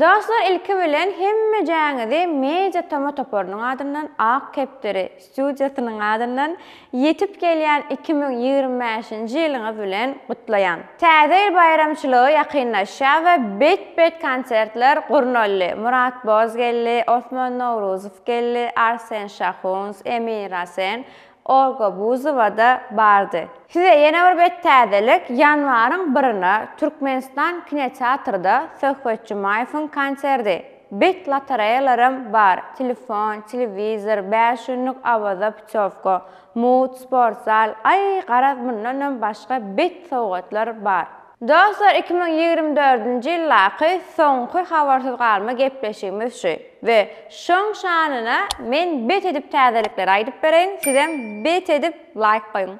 Dostlar ilki bilen hemmejäňizi Media Toma toparynyň adyndan, Ak kepderi studiýasynyň adyndan ýetip gelýän iki müň ýigrimi bäşinji ýylyňyz bilen gutlaýan. Täze ýyl baýramçylygy ýakynlaşýar we bet-bet konsertler gurnaldy, Murat Boz geldi, Osman Nowruzow geldi, Arsen Şahuns, Emin Rasen, Olga Buzowa-da bardy. Size ýene bir bet täzelik, ýanwaryň birine Türkmenistan kinoteatrda Söhbet Jumaýewiň konserdi. Bet lotereýalaram bar, telefon, telewizor, bäş ýüzlük Awaza putýowka, mut, sportzal, aý, garaz mundanam başga bet sowgatlar bar. Dostlar iki müň ýigrimi dördünji ýyldaky soňky habarsyz galma gepleşigimiz şu we şoň şanyna men bet edip täzelikleri aýdyp bereýin sizem bet edip laýk goýuň.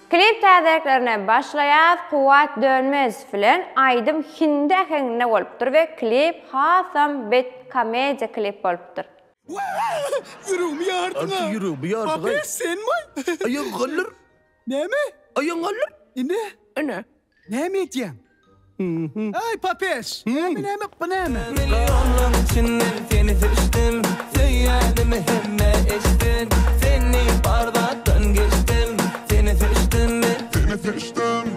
Klip täzeliklerine başlaýas Kuwwat Dönmez bilen aýdym hindi äheňinde bolupdyr we klip hasam bet komediýa klip bolupdyr. Ýüregimi ýardyň-a! Arçy, ýüregimi ýardyň-aý! Bapes, senmi-aý? Aýagyň galdyr! Näme? Aýagyň galdyr! Ine! Ine! Näme edýäň? Aý, Bapes! Näme, näme, bu näme? Millionlaň içinden seni seçdim, Söýýänimi hemmä eçdim, Sen diýip bar zatdan geçdim, Seni seçdim men, seni seçdim.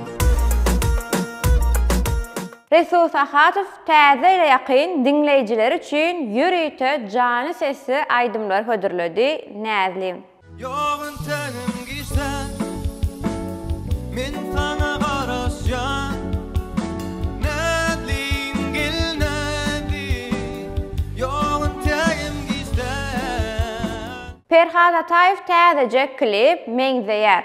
Resul Sahadow täze ýyla ýakyn diňleýjileri üçin ýörite janly sesli aýdymlary hödürledi, Näzlim. Ýok entegim giçden men saňa garaşýan Näzlim gel Näzlim ýok entegim giçden. Perhat Ataýew täzeje klip Meňzeýär.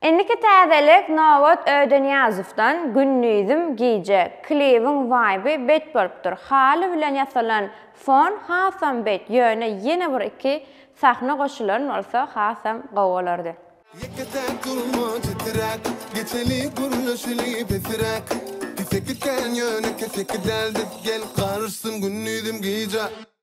Indiki täzelik Nobat Öýdeniýazowdan Gündizim gije klibiň waýby bet bolupdyr, haly bilen ýasalan fon hasam bet ýöne ýene bir iki sahna goşulan bolsa hasam gowy bolardy. Ýeke sen durma titiräp, Geçeli gürleşeli pesiräk. Keseki sen ýöne keseki däl biz, Gel garyşsyn gündizim gije.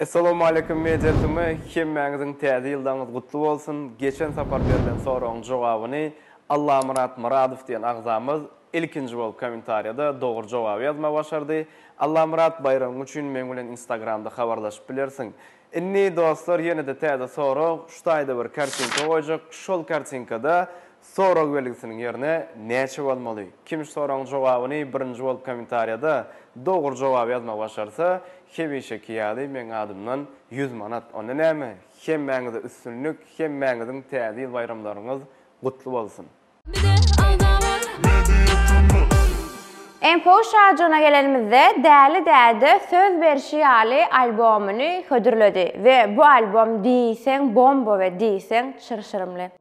Essalawmaleýkim Media TM hemmäňiziň täze ýyldaňyz gutly bolsun, geçen sapar berlen soragyň jogabyny Allamyrat Myradow diýen agzamyz ilkinji bolup kommentariýada dogry jogaby ýazma başardy, Allamyrat baýragyň üçin meň bilen instagramda habarlaşyp bilersiň. Indi dostlar ýenede täze sorag, şu taýda bir kartinka goýjak, şol kartinkada Sorag belgisiniň ýerine näçe bolmaly? Kim şu soragyň jogabyny birinji bolup kommentariýada dogry jogaby ýazmagy başarsa, hemişeki ýaly meň adymdan ýüz manat. Onda näme? Hemmäňize üstünlik, hemmäňiziň Täze ýyl baýramlaryňyz gutly bolsun! Bize alda bar. Info Şajygyna gelenimizde, Däli Däde söz berşi ýaly albomyny hödürledi we bu albom diýseň bomba we diýseň çyrşyrymly.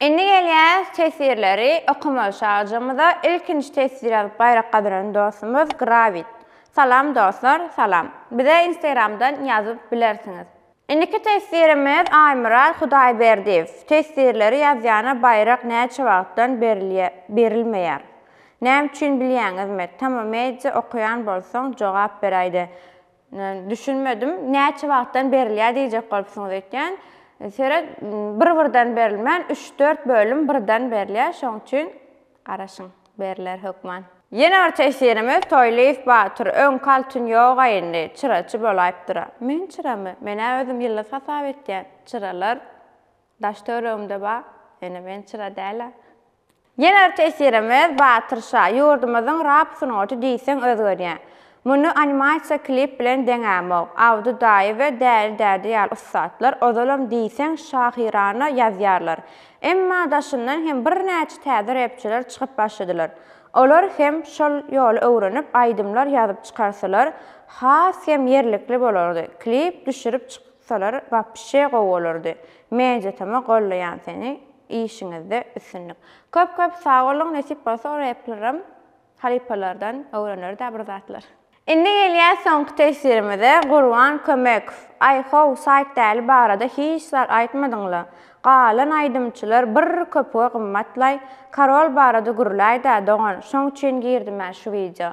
Indi gelýäs teswirleri okamaga şagjymyza ilkinji teswir ýazyp baýrak gazanan dostumyz Grawit. Salam dostlar salam. Bize instagramdan ýazyp bilersiňiz. Indiki teswirimiz Aýmyrat Hudaýberdiýew. Teswirleri ýazýana baýrak näçe wagtdan berilýär berilmeýär. Näme üçin bilýäňizmi? Tama media okaýan bolsaň jogap beräýde. Düşünmedim. Näçe wagtdan berilýär diýjek bolupsyňyz öýtýän. Seret, bir-birden berilmän, üç-dört bölüm birden berilýär. Şoň üçin garaşyň, beriler hökman. Ýene bir tesirimiz Toýlyýew batyr, öňki altyn ýoga indi, çyraçy bolaýypdyr-a. Men çyramy? Men-ä özüm ýyldyz hasap etýän. Çyralar daş-töweregimde bar. Ýöne men çyra däl-ä. Ýene bir tesirimiz Batyr şa. Ýurdumyzyň rap sungaty diýseň özgerýä. Muny animasiýa klip bilen deňämok. Abdy daýy we Däli däde ýaly ussatlar ozalam diýseň şahyrana ýazýarlar. Emma daşyndan hem birnäçe täze repçiler çykyp başladylar. Olar hem şol ýoly öwrenip aýdymlar ýazyp çykarsalar has hem ýerlikli bolardy. Klip düşürip çyksalar wapşe gowy bolardy. Mejitama gollaýan seni işiňizde üstünlik. Köp köp sag boluň nesip bolsa replerim halypalardan öwreneridä bir zatlar. Indi gelýäs soňky teswirimize Gurban Kömekow Aý how saýt däli barada hiç zat aýtmadyňla galan aýdymçylar bir köpüge gymmatlaý Karol barada gürläýdä dogan şoň üçin girdimä şu wideo